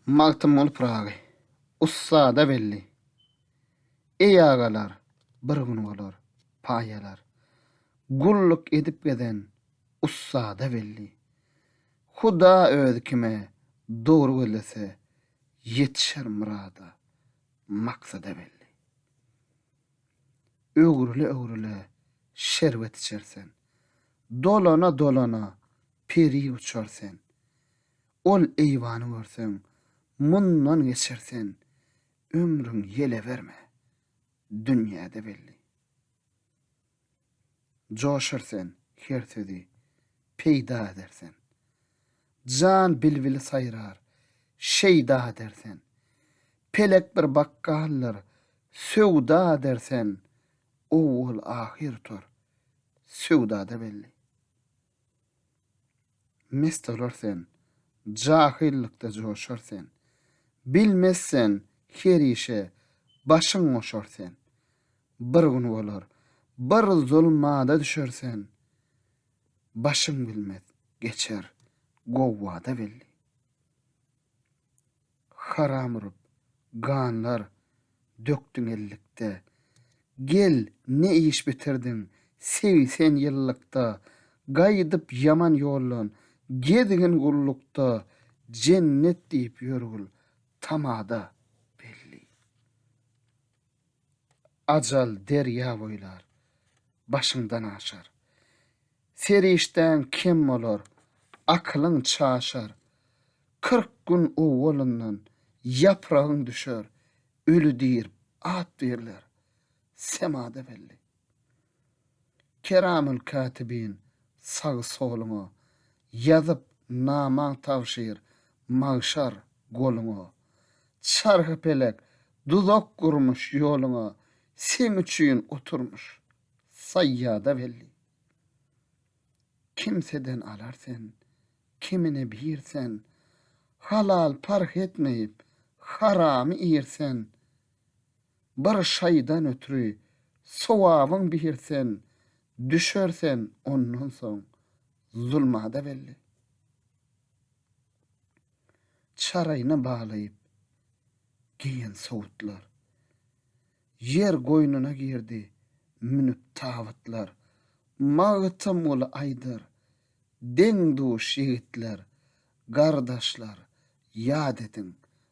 Magtymguly Pyragy, ussada belli. Eý agalar, bir gün bolar, paýalar. Gulluk edip gezen, ussada belli. Huda özi kime dogry gözlese, ýetişer myrada, maksada belli. Öwrüle-öwrüle şerbet içer sen. Dolana-dolana peri uçar sen. Ol eýwany görseň, mundan geçer sen. Ömrüň ýele berme, dünýäde belli. Joşar sen her sözi peýda eder sen. Jan bilbili saýrar, şeýda eder sen. Pelek bir bakgaldyr, söwda eder sen. Owwal-ahyr tor, söwdada belli. Mest olar sen, jahyllykda joşar sen, Bilmez sen, her işe başyň goşar sen. Bir gün bolar, bir zulmada düşer sen, Başyň bilmez, geçer, gowwada belli. haram urup, ganlar dökdüň ellikde. Gel, ne iş bitirdiň, sewi sen ýyllykda, gaýdyp ýaman ýoldan, gezgin gullukda, jennet diýip ýörgül tamada, belli. Ajal derýa boýlar, başyňdan aşar. Serişdäň kem bolar, akylyň çaşar. Kyrk gün owalyndan ýapragyň düşer, öli diýrip at berler, semada belli. Keramul Katibin sagy soluňa, Ýazyp namaň tabşyr magşar goluňa. Çarhy pelek duzak gurmuş ýoluňa, Seň üçin oturmuş saýýada belli. Kimseden alar sen, kimine bir sen, Halal parh etmeýip, haramy ir sen. bir şaýdan ötri sowabyň bihir sen düşer sen ondan soň zulmada belli çaraýna balaýyp geýen sowutlar ýer goýnuna girdi münüp tabytlar magtymguly aýdar deň duş ýigitler gardaşlar ýat ediň